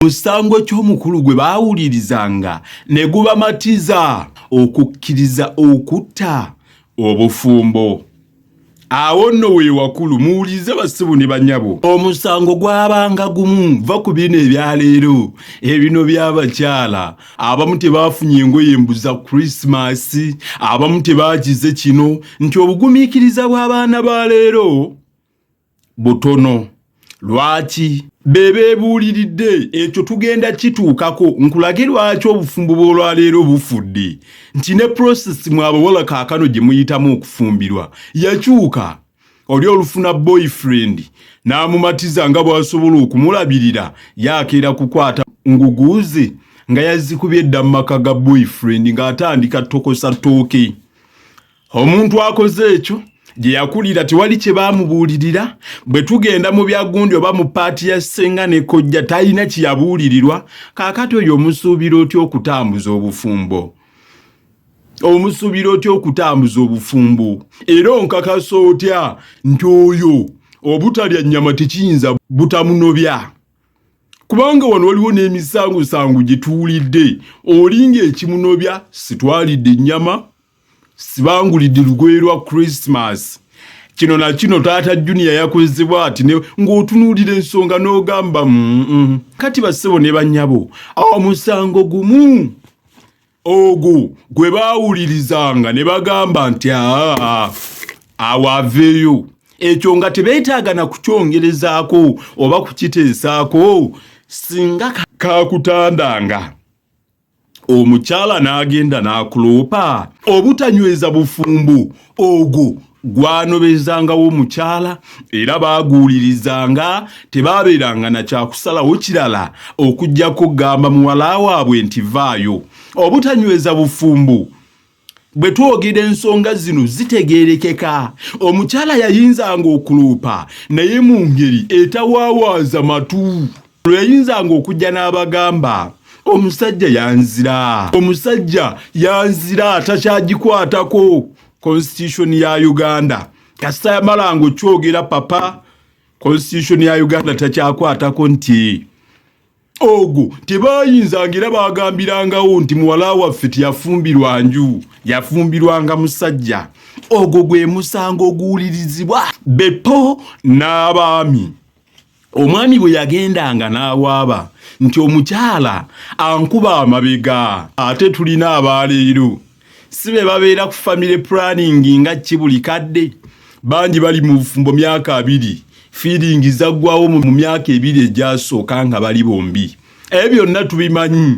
musango ky'omukulu gwe baawulirizanga ne gubamatiza okukkiriza okutta obufumbo awo nno weewakulu muwulirize basibu ne banyabo omusango gwabanga gumu va ku bino ebyaleero ebino by'abakyala abamu tebaafunye engoye mbuza krisimasi abamu tebaakize kino nti obugumiikiriza bw'abaana ba leero butono lwaki bebebuuliridde ekyo tugenda kituukako nkulage lwaki obufumbo bw'olwaleero bufudde nti ne prosesi mwabawala kaakano gye muyitamu okufumbirwa yakyuka oli olufuna boyfriend n'amumatiza nga bw'asobola okumulabirira yakeera kukwata nguguuze nga yazikubye edda mu maka ga boyfriend ng'atandika tokosa ttooke omuntu akoze ekyo gye yakulira tewali kye baamubuulirira bwe tugenda mu byagundi oba mu paati ya ssenga ne kojja talina kye yabuulirirwa kaakati oyo omusuubira otya okutambuza obufumbo omusuubira otya okutambuza obufumbo era onkakasa otya nti oyo obutalya nnyama tekiyinza butamunobya kubanga wano waliwo n'emisangusangu gye tuwulidde olinga ekimunobya sitwalidde ennyama sibangulidde lugoye lwa christmas kino na kino taata junior yakozebwa ati ng'otunuulira ensonga n'ogamba mm, mm. kati bassebo ne bannyabo omusango gumu ogwo gwe baawulirizanga ne bagamba nti aa awo aveeyo ekyo nga tebeetaaga na kukyongerezaako oba kukiteesaako singa kakutandanga ka omukyala n'agenda n'akuloopa obutanyweza bufumbo ogwo gwanobezangawo omukyala era baaguwulirizanga tebaabeeranga na kyakusalawo kirala okuggyako kugamba muwala waabwe nti vaayo obutanyweza bufumbo bwe twogera ensonga zino zitegeerekeka omukyala yayinzanga okuluupa naye mu ngeri etawaawaaza matu lwe yayinzanga okujja n'abagamba omusajja yanzira omusajja yanzira takyagikwatako constitution ya uganda kasita yamalanga okyogera papa constitution ya uganda takyakwatako nti ogwo tebayinzanga era bagambirangawo nti muwala waffe teyafumbirwa nju yafumbirwanga musajja ogwo gwe musango oguwulirizibwa bepo n'abaami omwami bwe yagendanga n'awaaba nti omukyala ankuba amabega ate tulina abaaleero si be babeera ku family planning nga ki buli kadde bangi bali mu bufumbo myaka abiri feeling zaggwawo mu myaka ebiri egyasooka nga bali bombi ebyo byonna tubimanyi